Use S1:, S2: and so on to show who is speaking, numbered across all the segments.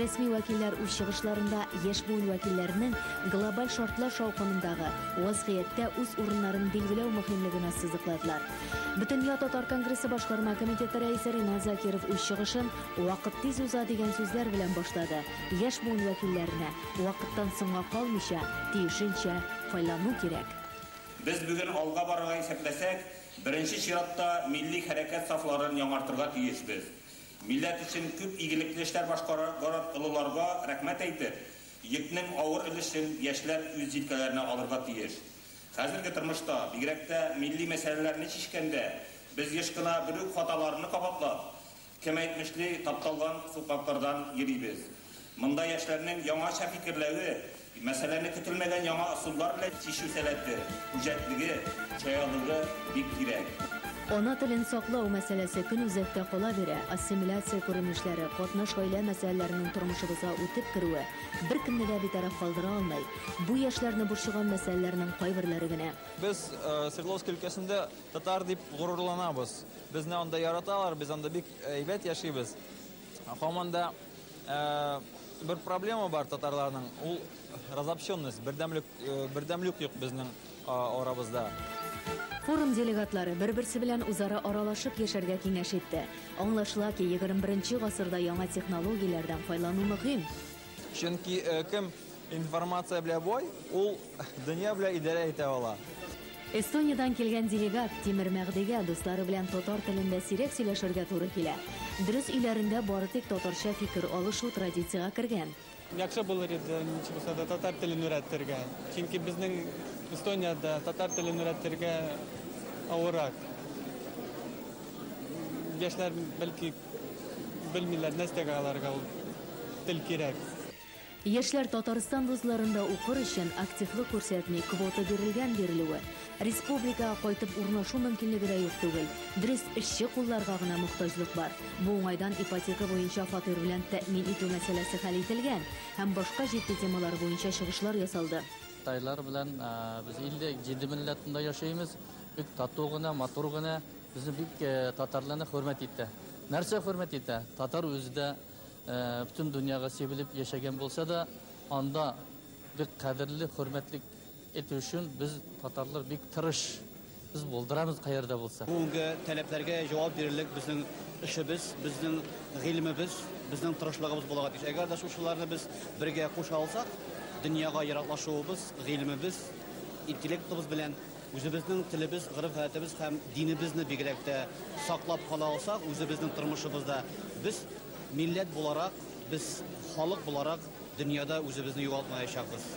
S1: Рәсми вәкилләр үз чыгышларында яшь буын вәкилләренең глобаль шартлар шаукымындагы вазгыятьтә үз урыннарын билгеләү мөһимлеген ассызыкладылар. Бөтендөнья татар конгрессы башкарма комитеты рәисе Ринат Закиров үз чыгышын Вакыт тиз уза дигән сүзләр белән башлады, яшь буын вәкилләренә вакыттан соңга калмыйча, тиешенчә файлану кирәк. Без бүген
S2: алга барырга исәпләсәк, беренче чиратта милли хәрәкәт сафларын яңартырга тиешбез. Милләт өчен күп игелекле эшләр башкарган олыларга рәхмәт әйтеп, йөкнең авыр өлешен яшьләр үз җилкәләренә алырга тиеш. Хәзерге тормышта, бигрәк тә милли мәсьәләләрне чишкәндә, без еш кына бер үк хаталарны кабатлап, кем әйтмешли, тапталган сукмаклардан йөрибез. Монда яшьләрнең яңача фикерләве, мәсьәләне көтелмәгән яңа ысуллар белән чишү сәләте, үҗәтлеге, чаялыгы бик кирәк. Ана телен
S1: саклау мәсьәләсе көн үзәктә кала бирә, ассимиляция күренешләре, катнаш гаилә мәсьәләләренең тормышыбызга үтеп керүе беркемне дә битараф калдыра алмый. Бу яшьләрне борчыган мәсьәләләрнең кайберләре генә. Без
S3: Свердловск өлкәсендә татар дип горурланабыз. Безне анда яраталар, без анда бик әйбәт яшибез. Һаман да бер проблема бар татарларның, ул разобщенность, бердәмлек, бердәмлек юк безнең арабызда.
S1: Форум делегатлары бер-берсе белән үзара аралашып яшәргә киңәш итте. Аңлашыла ки, 21 нче гасырда яңа технологияләрдән файлану мөһим. Чөнки
S3: кем информация белә бай, ул дөнья белә идарә итә ала. Эстониядән
S1: килгән делегат Тимер Мәгъдигә дуслары белән татар телендә сирәк сөйләшергә туры килә. Дөрес, өйләрендә бары тик татарча фикер алышу традициягә кергән. Яхшы булыр иде,
S4: ничек булса да татар телен өйрәтергә. Чөнки безнең Эстониядә татар телен өйрәтергә авыррак. Яшьләр бәлки. Белмиләр, нәрсәгә аларга ул тел кирәк. Яшьләр
S1: Татарстан вузларында укыр өчен активлык күрсәтми, квота бирелгән бирелүе. Республикага кайтып урнашу мөмкинлеге дә юк түгел. Дөрес, эшче кулларга гына мохтаҗлык бар. Бу уңайдан ипотека буенча фатир белән тәэмин итү мәсьәләсе хәл ителгән һәм башка җитди темалар буенча чыгышлар ясалды. Тайлар белән
S5: без 57 милләтендә яшәйбез. Бик тату гына, матур гына. Безне бик татарларны хөрмәт итә. Нәрсә хөрмәт итә? Татар үзе дә бөтен дөньяга сибелеп яшәгән булса да, анда бик кадерле, хөрмәтле итү өчен без татарлар бик тырыш. Без булдырабыз каерда булса. Бүгенге таләпләргә
S6: җавап бирерлек безнең эшебез, безнең гыйлемебез, безнең тырышлыгыбыз булырга тиеш. Әгәр дә шушыларны без бергә куша алсак, дөньяга яраклашуыбыз, гыйлемебез, интеллектыбыз белән Үзебезнең телебез, гореф-гадәтебез һәм динебезне бигрәк тә саклап кала алсак, үзебезнең тормышыбызда без милләт буларак, без халык буларак дөньяда үзебезне югалтмаячакбыз.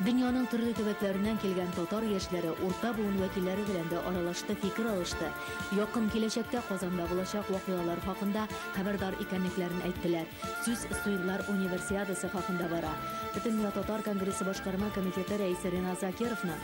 S6: Дөньяның
S1: төрле төбәкләреннән килгән татар яшьләре урта буын вәкилләре белән дә аралашты, фикер алышты, якын киләчәктә Казанда булачак вакыйгалар хакында хәбәрдар икәнлекләрен әйттеләр. Сүз Суирлар Универсиадасы хакында бара. Бөтендөнья татар конгрессы башкарма комитеты рәисе Ренат Закировның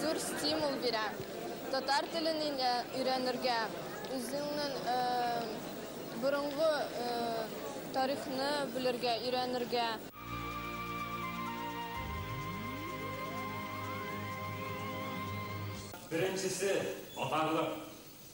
S1: Зур стимул
S7: бирә. Татар телен өйрәнергә, үзеңнең борынгы тарихны белергә, өйрәнергә.
S8: Беренчесе, татарлык.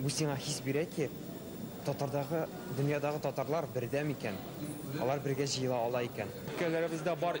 S9: Бу сиңа хис бирә ки, татардагы, дөньядагы татарлар бердәм икән, алар бергә җыела ала икән. Өлкәләребездә бар.